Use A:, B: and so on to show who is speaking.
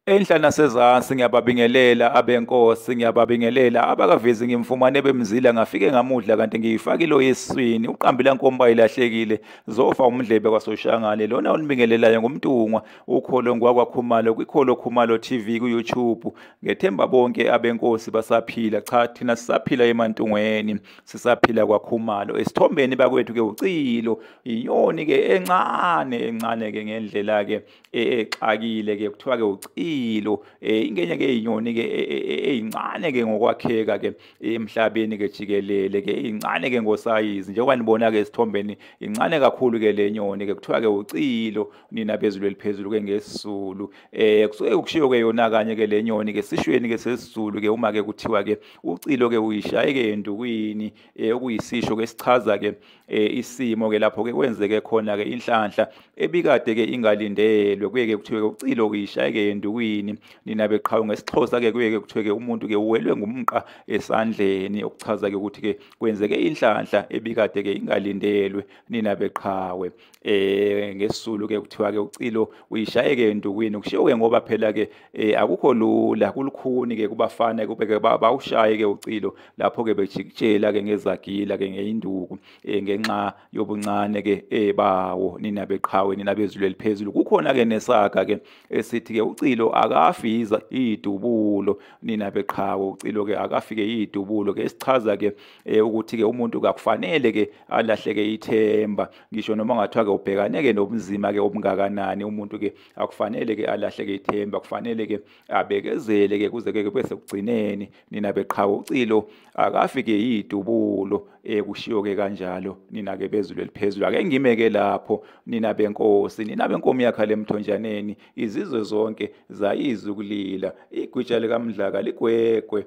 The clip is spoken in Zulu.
A: Enhla nasezansi ngiyababingelela abenkosi ngiyababingelela abakavezi ngimfumane bemzila ngafike ngamudla kanti ngiyifakile oyeswini uqambila nkomba ilahlekile zofa umdlebe kwasoshangane lona olibingelelayo ngumntungwa ukholo ngwakwa khumalo kwikholo khumalo TV ku YouTube ngethemba bonke abenkosi basaphila cha thina sisaphila emantungweni sisaphila kwakhumalo esithombeni bakwethu ke ucilo inyoni ke encane encane ke ngendlela ke e, exakile ke kuthiwa ke ucilo e, ingenye ke inyoni ke e, eyincane ke ngokwakheka ke emhlabeni ke jikelele ke incane ke ngosayizi njengoba nibona ke esithombeni incane kakhulu ke le nyoni ke kuthiwa ke ucilo nina bezulu eliphezulu ke ngesizulu eh kusuke kushiyo ke yona kanye ke le nyoni ke sishweni ke sesizulu ke uma ke kuthiwa ke ucilo ke uyishaye ke into kuyini eh, okuyisisho ke sichaza ke eh, isimo ke lapho ke kwenzeke khona ke inhlanhla ebikade ke ingalindelwe kuye ke kuthiwe ke ucilo uyishaye ke into kuyini nina beqhawe ngesixhosa ke kuye ke kuthiwe ke umuntu ke uwelwe ngumqa esandleni okuchaza ke ukuthi ke kwenzeke inhlanhla ebikade ke ingalindelwe nina beqhawe eh ngesizulu ke kuthiwa ke ucilo uyishayeke endukwini kushiwo ke ngoba phela ke eh, akukho lula kulukhuni ke kubafana kube ke bawushaye ke ucilo lapho ke bejikijela ke ngezagila ke ngeinduku eh, ngenxa yobuncane ke eh, bawo nina beqhawe nina bezulu eliphezulu kukhona ke nesaka ke esithi ke ucilo akafiza idubulo nina beqhawe ucilo ke akafike idubulo ke isichaza ke eh ukuthi ke umuntu kakufanele ke alahleke ithemba ngisho noma ngathiwa ke ubhekane ke nobunzima ke obungakanani umuntu ke akufanele ke alahleke ithemba kufanele ke abekezele ke kuze ke bese kugcineni nina beqhawe ucilo akafike yidubulo eh kushiyo ke kanjalo nina ke bezulu eliphezulu ake ngime ke lapho nina benkosi nina benkomo yakha lemthonjaneni izizwe zonke zayizwe ukulila igwitsha likamdlaka ligwegwe